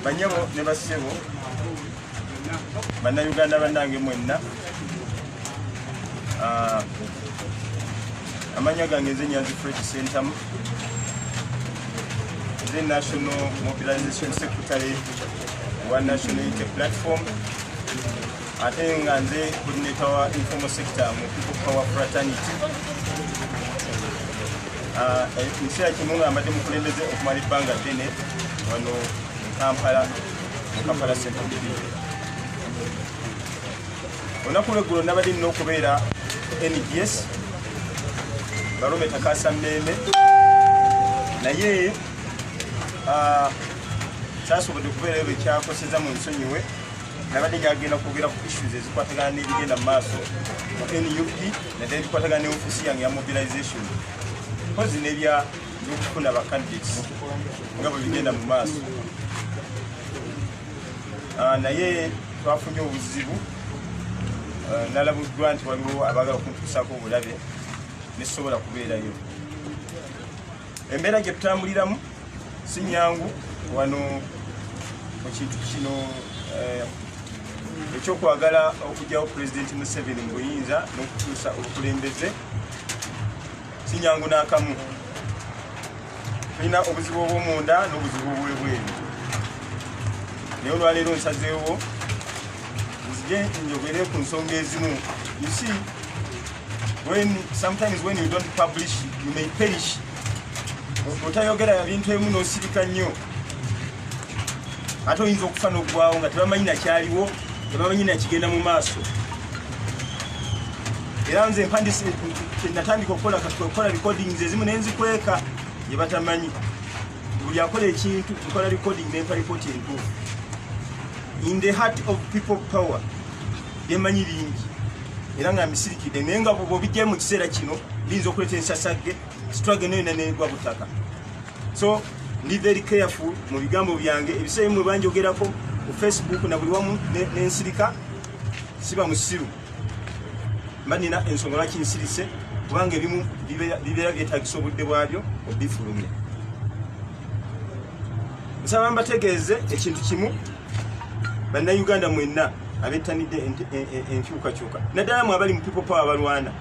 banyabo ne bassebo bannayuganda bannange mwenna ah, amanya gange nze nyanzi fresh sentamu the national mobilization secretary wa national unity platform ate nga nze coordinator wa informal sector mu people power fraternity ah, ekiseera kimu nga mbadde mukulembeze okumala ebbanga ddene wano mukampala mukampala central division olunaku lweggulo nabadde nina okubeera ngs balume takasa mmeme naye ah, saasobodde okubeerayo bekyakoseza mu nsonyiwe nabadde njagenda kwogera ku issues ezikwatagana n'ebigenda mu maaso mu nup nadde ebikwatagana ne ofiisi yange ya mobilization mpozi nebya byokufuna bacandidates nga bwe bigenda mu maaso ah, naye twafunye obuzibu ah, nalabuddwa nti waliwo abaagala okuntuusaako obulabe nesobola kubeerayo Embeera gye tutambuliramu si nyangu wano mu kintu kino eh, ekyokwagala okugyawo pulezidenti museveni mu buyinza n'okukyusa obukulembeze si nyangu n'akamu tulina obuzibu obwomunda n'obuzibu obwebweru naye olwaleero nsazeewo nzije njogere ku nsonga ezimu isi when sometimes when you don't publish you may perish otayogera ya bintu emu nosirika nnyo ate oyinza okufa nokugwawo nga tebamanyi nakyaliwo tebamanyi nakigenda mu maaso era nze mpandise natandika okukola okukola recordings ezimu nenzikweka yebatamanyi buli akola ekintu nkola recording nempa ripoti entuufu in the heart of people power byemanyi bingi era nga misirikidde naye nga bwoba obijjayo mu kiseera kino biyinza okuleeta ensasagge sitwage nayo nanegwa butaka so ndi very careful mu bigambo byange ebiseera bimwe banjogerako ku facebook na buli wamu nensirika siba musiru mba nina ensonga lwaki nsirise kubanga ebimu bibeera byetagisa obudde bwabyo obifulumya nsaba mbategeeze ekintu kimu bannayuganda mwenna abettanidde enkyukakyuka naddala mu abali mu people power balwana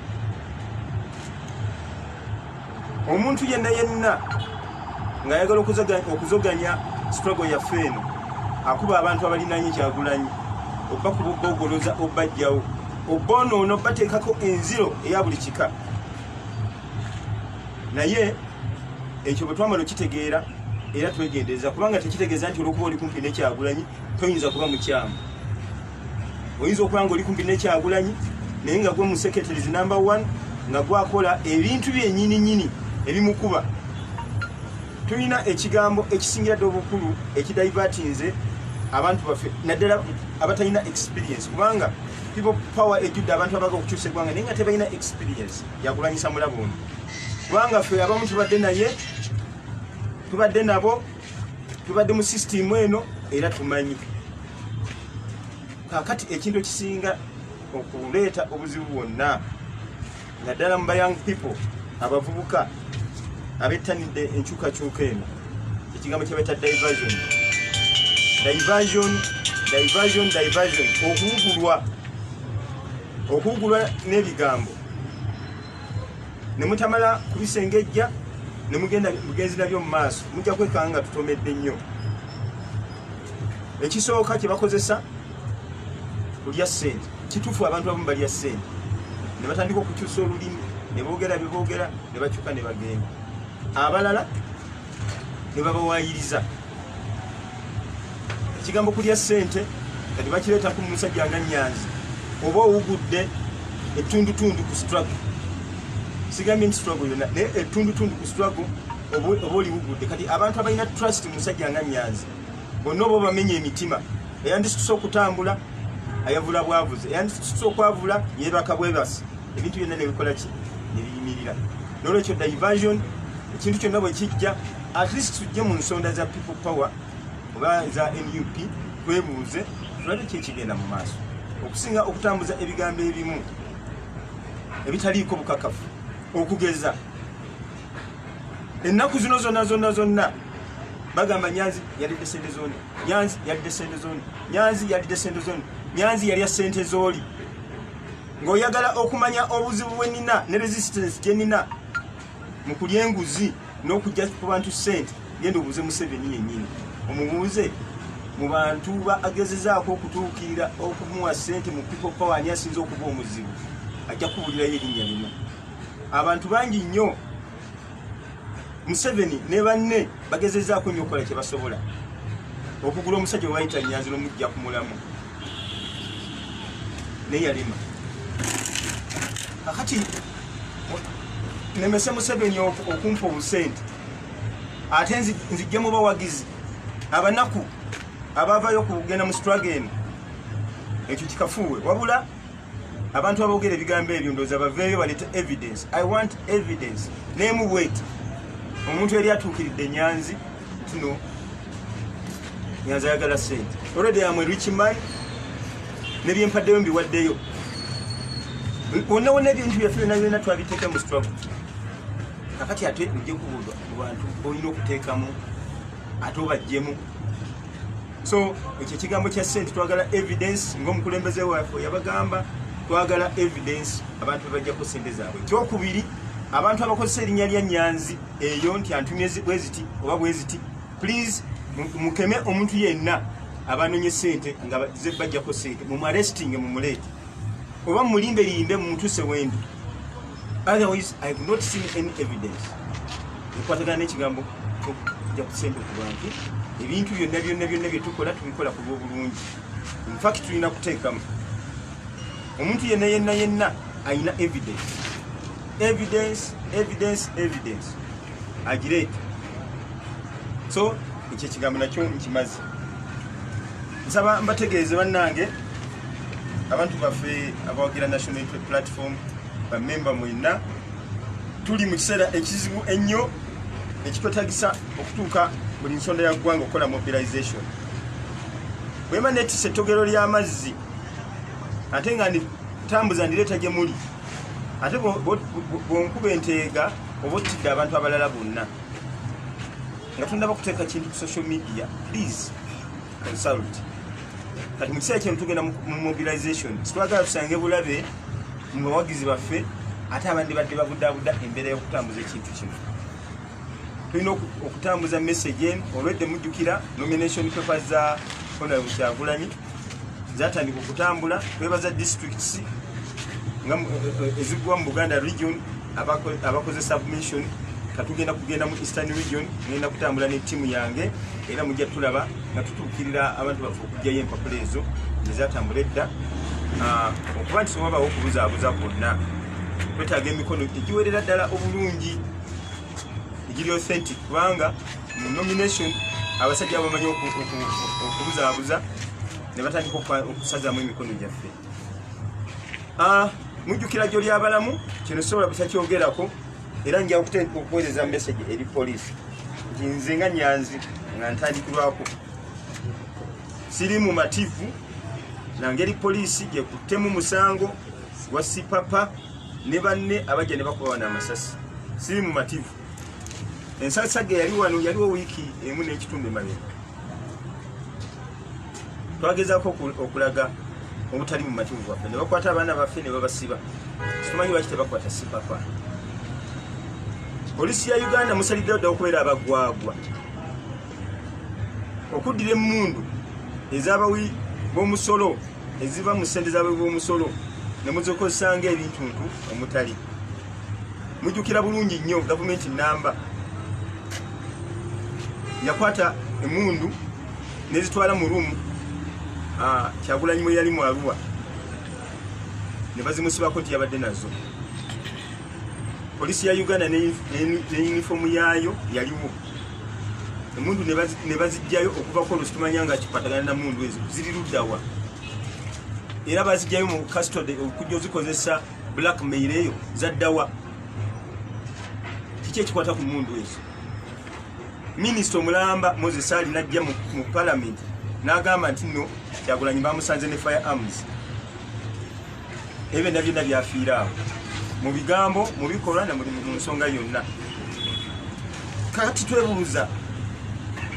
omuntu yenna yenna ng'ayagala okuzoganya struggle yaffe eno akuba abantu abalinanye kyagulanyi oba kubogoloza obajjawo obonoono bateekako enziro eya buli kika naye ekyo bwe twamala okitegeera era twegendereza kubanga tekitegeeza nti olwokuba oli kumpi nekyagulanyi toyinza kuba mukyamu oyinza okuba nga oli kumpi nekyagulanyi naye nga gwe museketerizi number one nga gwakola ebintu byenyininyini ebimukuba tulina ekigambo ekisingira dde obukulu ekidaivatinze abantu baffe naddala abatalina experience kubanga people power ejjudde abantu abaga okukyusa eggwanga naye nga tebalina experience yakulanyisa mulabo ono kubanga ffe abamu tubadde naye tubadde nabo tubadde mu sisitimu eno era tumanyi kakati ekintu ekisinga okuleeta obuzibu bwonna naddala mu bayang people abavubuka abettanidde enkyukakyuka eno ekigambo kyebaita diversion diversion diversion diversion okuwugulwa okuwugulwa n'ebigambo ne mutamala kubisengejja ne mugenda bugenzi nabyo mu maaso mujja kwekanga nga tutomedde nnyo ekisooka kye bakozesa kulya ssente kituufu abantu abamu balya ssente ne batandika okukyusa olulimi ne boogera bye boogera ne bakyuka ne bagenda abalala ne babawaayiriza ekigambo kulya ssente kati bakireeta ku musajja nga nyanzi oba owugudde ettundutundu ku struggle sigambye nti struggle yonna naye ettundutundu ku struggle oba oliwugudde kati abantu abalina trust musajja nga nyanzi bonna oba obamenya emitima eyandisituse okutambula ayavula bwavuze eyandisituse okwavula yebaka bwebasi ebintu byonna nebikola ki nebiyimirira nolwekyo diversion ekintu kyonna bwe kijja at least tujje mu nsonda za people power oba za nup twebuuze tulabe ki ekigenda mu maaso okusinga okutambuza ebigambo ebimu ebitaliiko bukakafu okugeza ennaku zino zonna zonna zonna bagamba nyanzi yalidde sente zoni nyanzi yalidde sente zoni nyanzi yalidde sente zoni nyanzi yalya sente zoli Ng'oyagala okumanya obuzibu bwe nina ne resistance gye nina mu kulya enguzi n'okujja ku bantu ssente, genda obuuze Museveni yennyini. Omubuuze mu bantu ba agezezaako okutuukirira okumuwa ssente mu people power ani asinza okuba omuzibu, ajja kubuulirayo erinnya limu. Abantu bangi nnyo. museveni ne banne bagezezaako nyo okukola kyebasobola okugula omusajja wayita nyanzi nomujja ku mulamu naye yalima akati nemese museveni okumpa obusente ate nzijja mu bawagizi abanaku abavayo okugenda mu strage eno ekyo kikafuuwe wabula abantu abogera ebigambo ebyo ndoza baveeyo baleta evidence i want evidence nemu bweti omuntu yali atuukiridde nyanzi tuno nyanzi ayagala sente already am a rich man nebyempaddeyo mbiwaddeyo wonna wonna ebintu byaffe byona byona twabiteeka mu struggle kakati ate ojja kubuulwa mu bantu olina okuteekamu ate obajjemu so ekyo ekigambo kya sente twagala evidence ngaomukulembeze waffe yabagamba twagala evidence abantu bebajjako sente zaabwe ekyokubiri abantu abakozesa erinnya lya nyanzi eyo nti antumye bweziti oba bweziti please mukeme omuntu yenna abanonye sente nga zebajjako sente mumuarestinge mumuleete oba mulimbe limbe mumutuse wendi otherwise i have not seen any evidence ekwatagana nekigambo kyokuja kusente kubantu ebintu byonna byonna byonna byetukola tubikola ku lwobulungi infact tulina kuteekamu omuntu yenna yenna yenna ayina evidence evidence evidence evidence agireeta so ekyo ekigambo nakyo nkimazi Nsaba mbategeeze bannange abantu baffe abawagira National Unity Platform bamemba mwenna tuli mu kiseera ekizibu ennyo ekitwetagisa okutuuka buli nsonda ya ggwanga okukola mobilization bwema netisa ettogero ly'amazzi ate nga nditambuza ndireeta gye muli ate bwonkuba enteega oba ottidde abantu abalala bonna nga tundaba okuteeka kintu ku social media please consult kati mu kiseera kino tugenda mu mobilization sitwagala tusange bulabe mu bawagizi baffe ate abandi badde babudaabuda embeera y'okutambuza ekintu kino tulina okutambuza message en olwedde mujjukira nomination paper za honorable kyagulanyi zatandika okutambula twebaza districts nga eh, eh, ezigwa mu buganda region abakoze submission katugenda kugenda mu eastern region ngenda kutambula ne tiimu yange era mujja tulaba nga tutuukirira abantu baffe okugyayo empapula ezo ezatambula edda ah, okuba nti sobabawo okubuzaabuza kwonna twetaaga emikono egiwerera ddala obulungi egiri authentic kubanga mu nomination abasajja bamanyi okubuzaabuza ne batandika okusazamu emikono gyaffe Ah, mujjukira gyoli abalamu kino sobola busa kyogerako era nja okuweereza message eri poliisi nti nze nga nyanzi nga ntandikirwako siri mu mativu nangeri poliisi gyekuttemu musango gwa sipapa ne banne abajja ne bakuba wana amasasi siri mu mativu ensasage yali wano yaliwo wiiki emu n'ekitundu emabega twagezako okulaga obutali mu mativu bwaffe ne bakwata abaana baffe ne babasiba situmanyi lwaki tebakwata sipapa polisi ya uganda musaliddewo dda okubeera abagwagwa okuddira emundu ez'abawi b'omusolo eziva mu ssente zaabwe b'omusolo ne muzikozesa ng'ebintuntu omutali mujjukira bulungi nnyo gavumenti namba yakwata emundu nezitwala mu rumu ah, kyagulanyi mwe yali mu aruwa ne bazimusibako nti yabadde nazo polisi ya uganda ne yunifoomu yaayo yaliwo emundu nebazijjayo okuvako olwo situmanya nga kikwatagana na mundu ezo ziri luddawa era bazijjayo mu custody okujja ozikozesa black mail eyo zaddawa kiki ekikwata ku mundu ezo minisita omulamba moses ali najja mu palamenti n'agamba nti no kyagulanyi bamusanze ne fire arms ebyo byonna byonna byafiira awo mu bigambo mu bikolwa na mu nsonga yonna kati twebuuza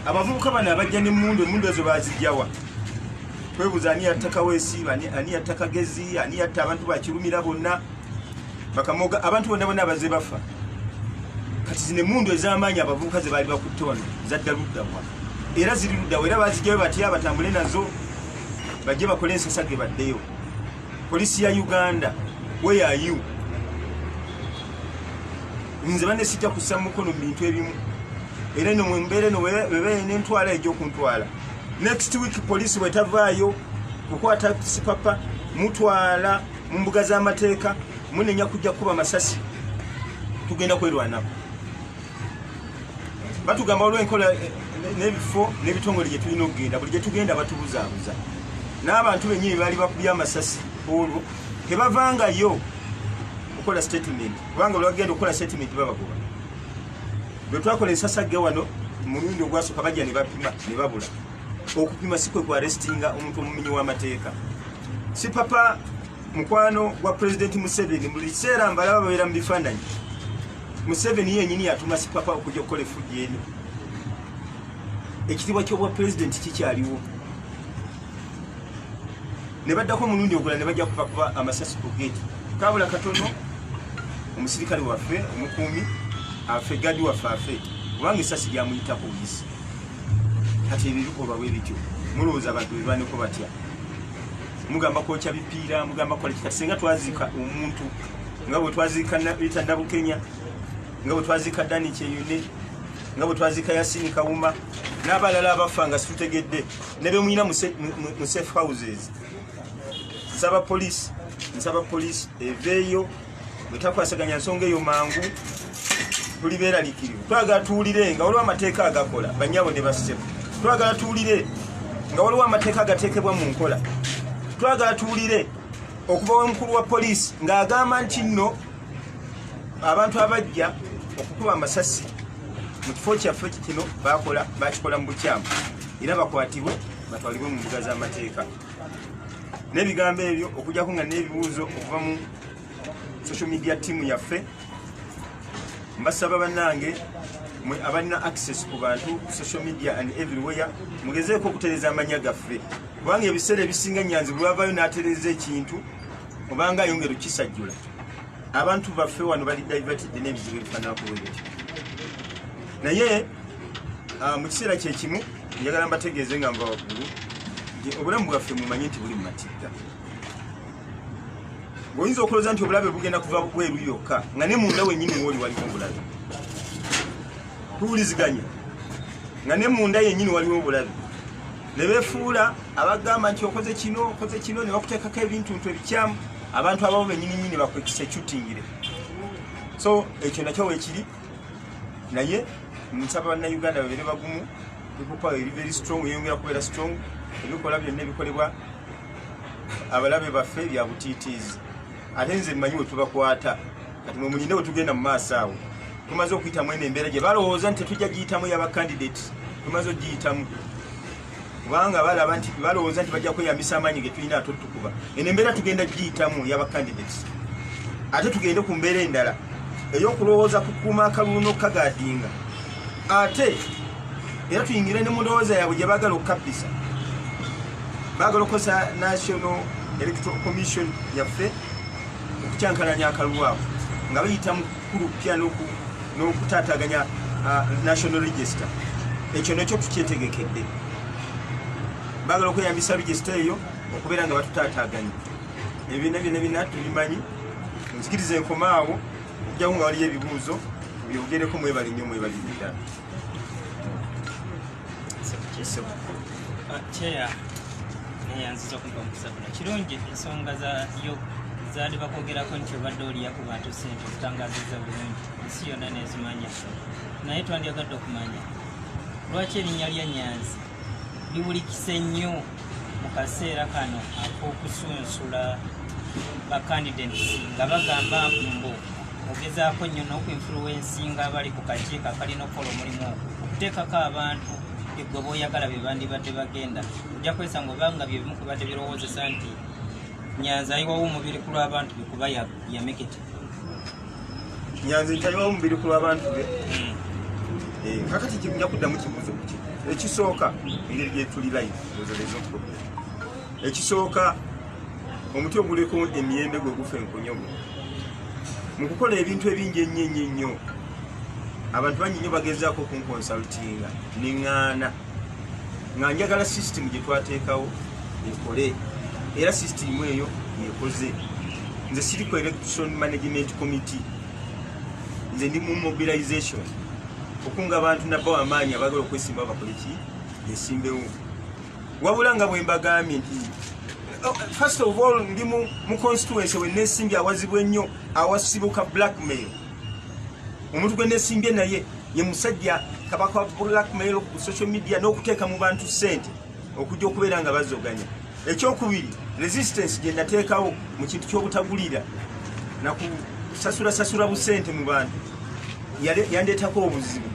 abavubuka bano abajja nemundu emundu ezo bazijjawa twebuuza ani yatta kaweesi ani yatta kagezi ani yatta abantu bakirumira bonna bakamoga abantu bonna bonna abaze bafa kati zino emundu ez'amaanyi abavubuka ze baali bakutte wano zadda luddawa era ziri luddawa era bazijjayo batya batambule nazo bajje bakole ensasage baddeyo Police ya Uganda, where are you? Nze bane sijja kussa mukono mu bintu ebimu. Era no mwembere no bebe ne ntwala ejo kuntwala. Next week police wetavaayo kukwata sipapa mutwala mu mbuga z'amateeka munenya kujja kuba masasi tugenda kwerwanako. batugamba waliwo enkola eh, n'ebifo n'ebitongole gye tulina okugenda buli gye tugenda batubuzaabuza n'abantu bennyini baali bakubye amasasi olwo tebavangayo okukola statement kubanga olwagenda okukola statement babagoba bwe twakola ensasagge wano mulundi ogwasooka bajja ne bapima ne babula okupima si kwe kwarestinga omuntu omumenyi w'amateeka si papa mukwano gwa president museveni buli kiseera mbalaba babeera mu bifaananyi museveni yenyini yatuma sipapa okujja okukola efujja eno ekitibwa kyobwa president kikyaliwo ne baddako omulundi ogula ne bajja kuva kuba amasasi ku gate kabula katono omusirikale waffe omukuumi afe gadi waffe afe kubanga esasi lyamuyitako buyisi kati ebibikolwa bwe bityo mulowooza abantu bebaneko batya mugamba kwokya bipiira mugamba kola kika singa twaziika omuntu nga bwe twaziika rita nabukenya nga bwe twaziika dani kyeyune nga bwe twaziika yasini kawuma n'abalala abafa nga situtegedde ne bemuyina mu safe houses nsaba poliisi nsaba poliisi eveeyo bwetakwasaganya nsonga eyo mangu tuli beralikirivu twagala tuwulire nga waliwo amateeka agakola banyabo ne basebo twagala tuwulire nga waliwo amateeka agateekebwa mu nkola twagala tuwulire okuva wemukulu wa poliisi ng'agamba nti nno abantu abajja okukuba amasasi mu kifo kyaffe kino bakola bakikola mu bukyamu era bakwatibwe batwalibwe mu mbuga z'amateeka n'ebigambo ebyo okujjako nga n'ebibuuzo okuva mu social media team yaffe mbasaba banange mwe abalina access ku bantu ku social media and everywhere mugezeeko okutereza amanya gaffe kubanga ebiseera ebisinga nyanzi bwavayo natereza ekintu obanga ayongera okukisajjula abantu baffe wano bali divertidde n'ebizibu ebifananakuwebyo naye ah, mu kiseera kyekimu njagala mbategeeze nga mbawaggulu nti obulamu bwaffe mumanye nti buli mu matigga oyinza okuloza nti obulabe bugenda kuva bweru yokka nga ne munda wenyini woli waliwo obulabe tuwuliziganya nga ne munda yenyini waliwo obulabe ne befuula abagamba nti okoze kino okoze kino ne bakuteekako ebintu ntu ebikyamu abantu ababo benyini nyini bakwekisecutingire so ekyo nakyo wekiri naye nsaba bannayuganda babeere bagumu people are very strong yeyongera kubeera strong ebikola byonna ebikolebwa abalabe baffe bya butiitiizi ate nze mmanyi we tubakwata kati mwe mulinde we tugenda mu maaso awo tumaze okuyitamu eno embeera gye balowooza nti tetujja giyitamu yaba kandidate tumaze okugiyitamu kubanga balaba nti balowooza nti bajja kweyambisa amaanyi ge tulina ate otukuba eno embeera tugenda giyitamu yaba kandidate ate tugende ku mbeera endala ey'okulowooza kukuuma akalulu n'okukagadinga ate era tuyingire ne mundowooza yaabwe gye baagala okukabbisa baagala okukozesa national electoral commission yaffe okukyankalanya akalulu ako nga bayita mu kukulupya n'okutaataganya national register ekyo nekyo tukyetegekedde baagala okweyambisa register eyo okubeera nga batutaataaganya ebibiina byona bina tubimanyi nzikiriza enkomaawo okujjamu nga waliyo ebibuuzo byogereko mwebali nnyo mwebali ddala kyeya neyanziza okumpa omukisa guno kirungi ensonga za yoga zaali bakwogerako nti obadde oliya ku bantu sente ozitangaziza bulungi ensi yonna nezimanya naye twandyagadde okumanya lwaki erinnya lya nyanzi biwulikise nnyo mu kaseera kano ak'okusunsula bakandidates nga bagamba mbu ogezaako nnyo n'okuinfluensinga abali ku kakiiko akalina okukola omulimu ogwo okuteekako abantu egwe boyagala bebandibadde bagenda ojja kwesanga obanga byebimu kubadde birowoozesa nti nyanza ayiwawo omubiri ku lw'abantu bekuba yamekete nyanzi ntayiwa omubiri ku lw'abantu be hmm. eh, kakati kijja kuddamu kibuuzo kuki ekisooka engeri gyetuli life ozolezo problem ekisooka omuti oguliko emiyembe gwe gufa enkonyogo mu kukola ebintu ebingi ennyo ennyo ennyo abantu bangi nnyo bagezaako okunkonsaltinga neŋŋaana nga njagala system gye twateekawo ekole era system eyo yekoze nze siri ku election management committee nze ndi mu mobilization okunga abantu nabbawo amaanyi abagala okwesimba bakole ki yesimbewo wabula nga bwe mbagambye nti oh, first of all ndi mu constituency wenesimbye awazibwa ennyo awasibuka blackmail omuntu gwe nesimbye naye ye musajja kabaka wa blackmail ku social media n'okuteeka mu bantu ssente okujja okubeera nga bazoganya ekyokubiri resistance gye nateekawo mu kintu ky'obutagulira nakusasula sasula busente mu bantu yandeetako obuzibu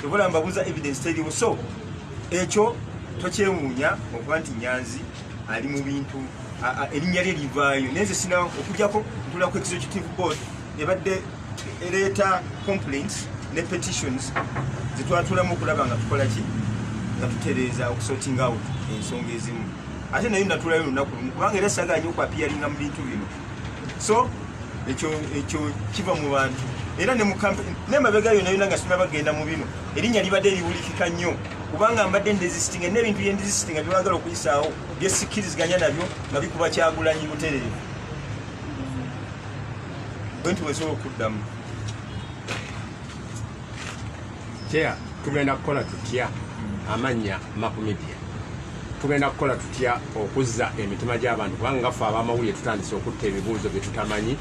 ebula mbabuuza evidence teriwo so ekyo tokyewuunya okuba nti nyanzi ali mu bintu erinnya lye livaayo naye nze sina okujjako ntula ku executive board ebadde ereeta complaints ne petitions zetwatulamu okulaba nga tukola ki nga tutereeza okusorting out ensonga ezimu ate naye natulayo olunaku lumu kubanga era saga nyo okwapiyaringa mu bintu bino so ekyo ekyo kiva mu bantu era ne mukampe ne mabega yona yona nga sima bagenda mu bino erinya libadde liwulikika nnyo kubanga mbadde ndezisitinga n'ebintu bye ndezisitinga byebagala okuyisaawo byesikkiriziganya nabyo nga bikuba kyagulanyi buterere nti wesobola okuddamu kyeya tugenda kukola tutya amannya makumidia tugenda kukola tutya okuzza emitima gy'abantu kubanga nga ffe abamawulire tutandise okutta ebibuuzo bye tutamanyi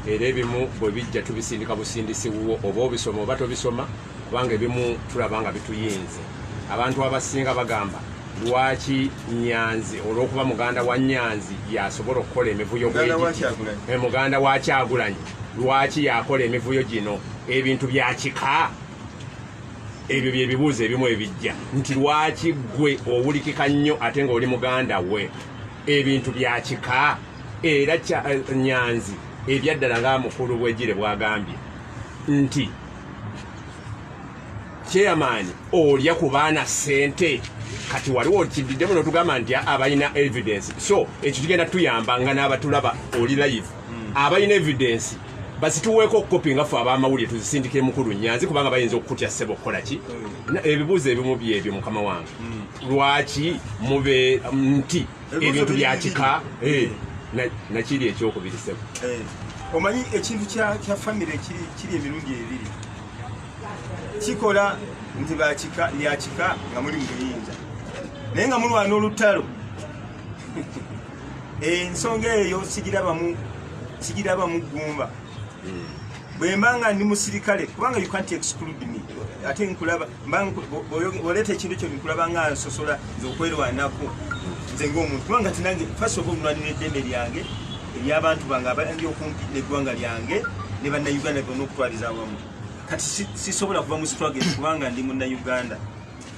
era ebimu bwe bijja tubisindika busindisi wuwo oba obisoma oba tobisoma kubanga ebimu tulaba nga bituyinze abantu abasinga bagamba lwaki nyanzi olwokuba muganda wa nyanzi yasobola okukola emivuyo eh, muganda wa kyagulanyi lwaki yakola emivuyo gino ebintu byakika ebyo byebibuuzo ebimu ebijja nti lwaki gwe owulikika nnyo ate nga oli muganda we ebintu byakika era eh, nyanzi ebyaddala nga mukulu bwegire bwagambye nti chairman olya ku baana sente kati waliwo kididdemu notugamba nti abalina evidence so ekyo kigenda tuyamba nga n'abatulaba oli live hmm. abalina evidence basituweeko okukopi nga fe abamawulire tuzisindikire mukulu nyanzi kubanga bayinza okukutya sebo okukola ki hmm. ebibuuzo ebimu byebyo mukama wange hmm. lwaki mube nti ebintu bya kika eh, nakiri ekyokubiri sebo eh, omanyi ekintu kya famire kiri emirundi ebiri kikola nti bakika lyakika nga muli muyinza naye nga mulwana olutalo ensonga eyo sigirabamu sigirabamu gumba hmm. bwemba nga ndi musirikale kubanga you can't exclude me ate nkulaba oleta ekintu kyo nkulaba nga nsosola nze okwerwanako nze ngaomuntu kubanga tinange fasi oba omulwanira eddembe lyange eryabantu bange abandi okumpi neggwanga lyange ne bannauganda gona okutwaliza awamu kati sisobola kuva mu struggle kubanga ndi munnauganda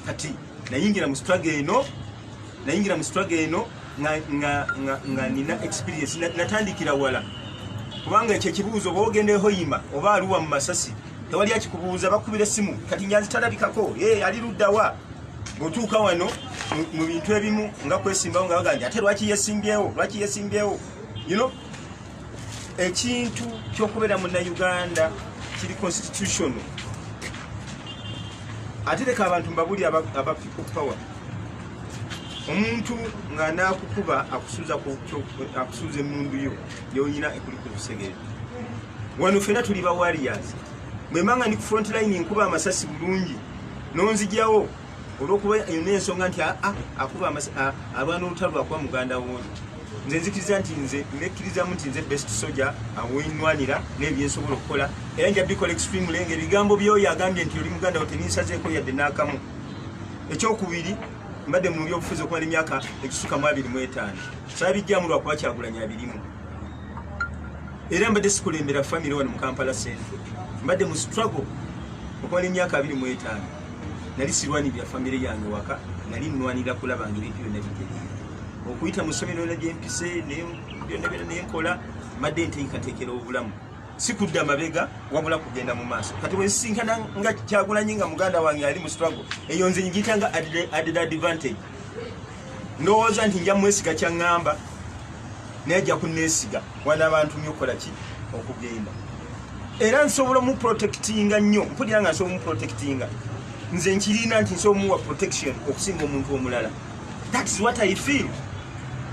kati nayingira mu struggle eno nayingira mu struggle eno nga nina experience natandikira wala kubanga ekyo ekibuuzo oba ogendehoyima oba aluwa mu masasi tewali akikubuuza bakubira essimu kati nyanzi talabikako e ali luddawa bwetuuka wano mu bintu ebimu nga kwesimbawo nga baganja ate lwaki yesimbyewo lwaki yesimbyewo you know ekintu kyokubeera munauganda kiri constitution ate leka abantu mbabuli aba people power omuntu nga nakukuba akusuuza emundu yo yonyina ekuli ku lusegere wano fena tuli ba warriors mwemanga ndi ku front line nkuba amasasi bulungi nonzijawo olwokuba yona ensonga nti ah, ah, akuba ah, abaana olutalo akuba muganda woli nze nzikiriza nti nze nekkirizamu nti nze best soja awenwanira nebyensobola okukola era nja bikola extremely nga ebigambo byoyo agambye nti oli muganda wo teninsazeeko yadde n'akamu ekyokubiri mbadde mu byobufuzi okumala emyaka egisuka mu abiri mu etaano Kyabijjamu lwa kuba Kyagulanyi abirimu. Era mbadde sikulembera famire wano mu Kampala Central. Mbadde mu struggle okumala emyaka abiri mu etaano. Nali sirwanirira famire yange waka, nali nnwanira kulaba nga ebintu byonna bitereera. Okuyita mu ssomero yonna gye mpise, byonna byonna ne nkola, mbadde nteekateekera obulamu. sikudda mabega wabula kugenda mu maaso kati wesisinkana nga kyagulanyi nga muganda wange ali mu struggle eyo nze ngiyita nga added advantage ndowooza nti nja mwesiga kyaŋŋamba naye ajja kunneesiga wana abantu nyo okukola ki okugenda era nsobola omuprotectinga nnyo mpulira nga nsobola omuprotectinga nze nkirina nti nsobola omuwa protection okusinga omuntu omulala thats what i feel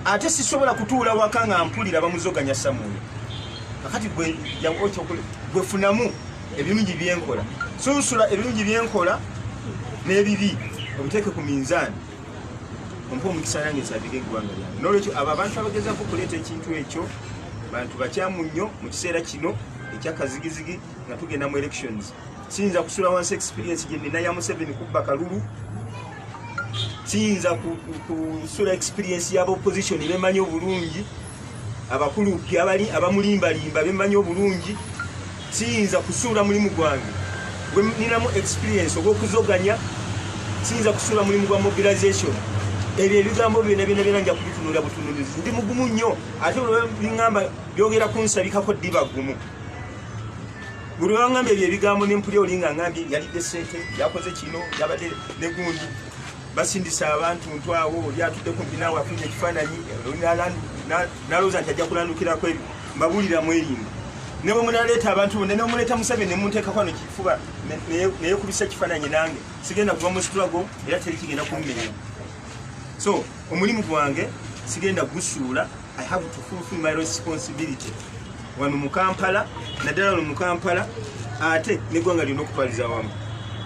ate sisobola kutuula waka nga mpulira bamuzoganya samuyo kakati gwefunamu ebirungi byenkola sunsula ebirungi byenkola n'ebibi obiteeke ku minzaani ompa omukisa yange nsabire eggwanga lyange nolwekyo abo abantu abagezako okuleeta ekintu ekyo bantu bakyamu nnyo mu kiseera kino ekyakazigizigi nga tugenda mu elections siyinza kusula wansi experience gyenina ya museveni kubba kalulu siyinza kusula experience yaba opposition bemanyi obulungi abakulu abali abamulimbalimba bemmanyi obulungi siyinza kusuula mulimu gwange gweninamu experience ogwokuzoganya siyinza kusuula mulimu gwa mobilization ebyo ebigambo byona byona byona nja kubitunula butunulizi ndi mugumu nnyo ate biamba byogera kunsabikako ddiba gumu buli wangamba ebyo ebigambo nempuli olinga ngambye yalidde sente yakoze kino yabadde negundi basindisa abantu ntu awo oli atudde kumpi naawe afunye ekifaananyi nalowooza nti ajja kulandukirako ebyo mbabuulira mwerinda ne bwe munaleeta abantu bonna ne omuleeta musabe ne munteeka kwano kifuba naye kubisa ekifaananyi nange sigenda kuva mu situlago era teri kigenda kummerera so omulimu gwange sigenda gusuula I have to fulfill my responsibility wano mu Kampala naddala wano mu Kampala ate n'eggwanga lyonna okutwaliza awamu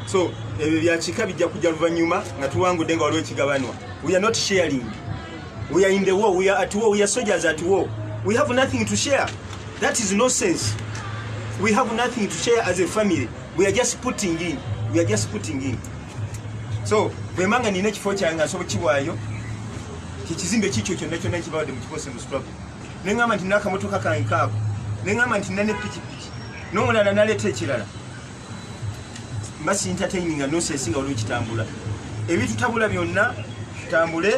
so ebyo byakika bijja kujja luvannyuma nga tuwangudde nga waliwo ekigabanwa we are not sharing we are in the war we are at war we are soldiers at war we have nothing to share that is no sense we have nothing to share as a family we are just putting in we are just putting in so bwemanga nina ekifo kyange asobola kiwaayo kyekizimbe kikyo kyonna kyonna ekibawadde mukikose mu struggle ne ŋamba nti nakamotoka kange kaako ne ŋamba nti nane pikipiki n'omulala naleeta ekirala mba sintataininga nosesi nga waliwo kitambula ebitutabula byonna tutambule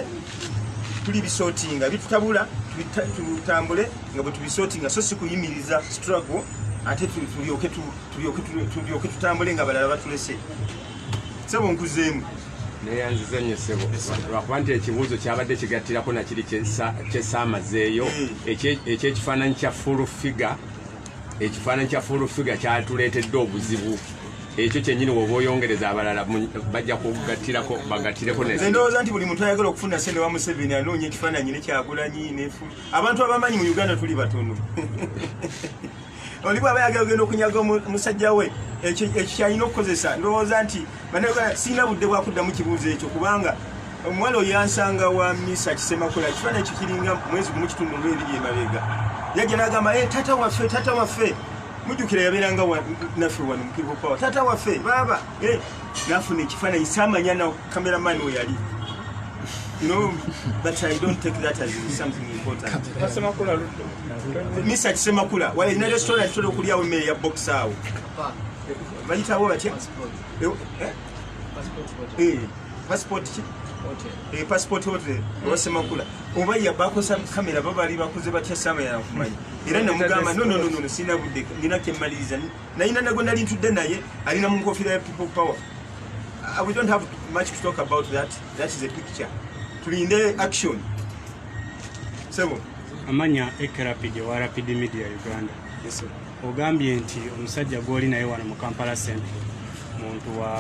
tuli bisotinga ebitutabula tutambule nga bwe tubisotinga so si kuyimiriza struggle ate tulyoke tutambule nga balala batulese sebo nkuzeemu neyanziza nnyo ssebo lwakuba nti ekibuuzo kyabadde kigattirako nakiri kyesaamazeeyo ekyekifaananyi kya full figure ekifaananyi kya full figure kyatuleetedde obuzibu ekyo kyenyini woba oyongereza abalala bajja kugattirako bagattireko nendowooza nti buli muntu ayagala okufuna sente wa museveni anoonya ekifaananyi nekyagulanyi abantu abamanyi mu uganda tuli batono oli bwaba yagala ogenda okunyaga omusajja we ekyo kyalina okukozesa ndowooza nti banauganda sirina budde bwakuddamu kibuuzo ekyo kubanga omuwala oyo yansanga wa misa kisemakula ekifaananyi kikiringa mwezi gumu kitundu olw ebiri emabega yajja nagamba e tata waffe tata waffe mujjukira yabeeranga naffe wano mukirikopawa tata waffe baaba Eh, nafuna ekifaananyi samanya na cameraman we yali no but i don't take that as something important misa kisemakula wala ina restaurant tole okulyawo emmere ya box awo bayitawo batya eh, eh? passport ki Eh, passport hotel obasemakula oba yabakosa kamera babali bakoze batya sama yakumanya era nemugamba nononono sina budde nina kyemaliriza nayina nago nali ntudde naye alina mu nkofira ya people power uh, we don't have much to talk about that that is a picture tulinde action sebo amanya ekrapid wa rapid media uganda yes, ogambye nti omusajja gwoli naye wano mu kampala central muntu wa,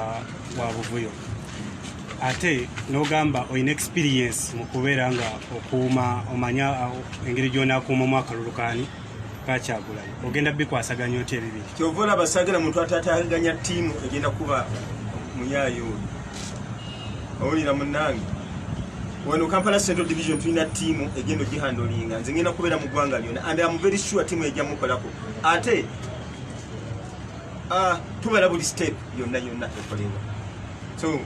wa buvuyo ate nogamba olina experience mu kubeera nga okuuma omanya uh, engeri gyonakuuma omwakalulukani bakyagulanyi ogenda bikwasaganya otya ebibiri kyova olaba sagala muntu atataganya tiimu egenda kuba muyayo oyo owulira munange wano kampala central division tulina tiimu egenda ogihandolinga nze ngenda kubeera mu ggwanga lyona and am very sure tiimu ejja mukolako ate ah, tubala buli step yonna yonna ekolebwa So,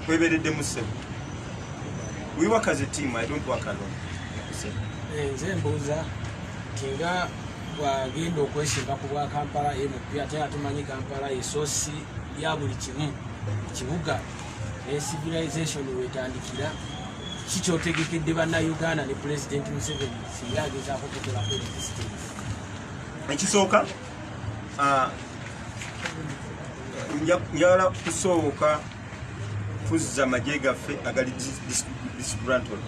kweberedde musse. We work as a team, I don't work alone. Eh, nze mbuuza tinga bwagenda okwesimba ku bwa Kampala ye mupya ate atumanyi Kampala yesosi ya buli kimu kibuga ne civilization wetandikira kikyotegekedde banna Uganda ne President Museveni singa agezaako okukolako ekisooka Ah, njala kusooka kuzza magye gaffe agali disgrantal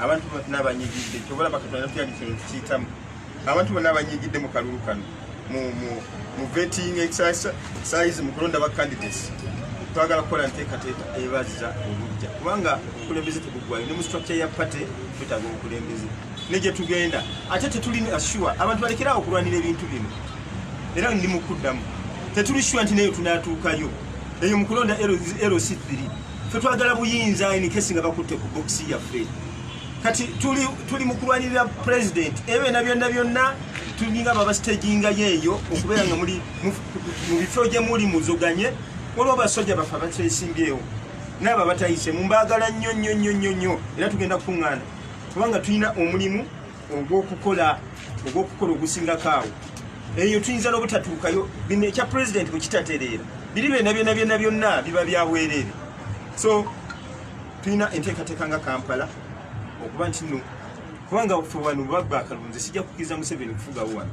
abantu bonna abanyigidde kyobola bakatanatyalikyitamu abantu bonna abanyigidde mu kalulu kano mu vetting exercise mu kulonda ba candidates twagala kukola nteekateeka ebaza obujja kubanga obukulembeze tebuggwayo ne mu structure ya party twetaaga obukulembeze ne gye tugenda ate tetuli sure abantu balekerawo okulwanira ebintu bino era ndi mu kuddamu tetuli sure nti nayo tunaatuukayo eyo mu kulonda lc 3 fe twagala buyinza enikesi nga bakutte ku bokisi yaffe kati tuli, tuli mu kulwanirira pulezidenti ebyona byonna byonna tulinga babasitegingayo eyo okubeera nga muli mu bifo gye muli muzoganye waliwo basajja baffe abakyesimbyewo naabo abatayise mu mbaagala nnyo nnyo nnyo nnyo nnyo era tugenda kukuŋŋaana kubanga tulina omulimu ogw'okukola ogw'okukola ogusingako awo eyo tuyinza n'obutatuukayo bino ekya pulezidenti bwe kitatereera biri byona byona byona byonna biba byabwereere so tulina enteekateeka nga kampala okuba nti no kubanga ffe wano babba akalunzi sijja kukiriza museveni kufugawo wano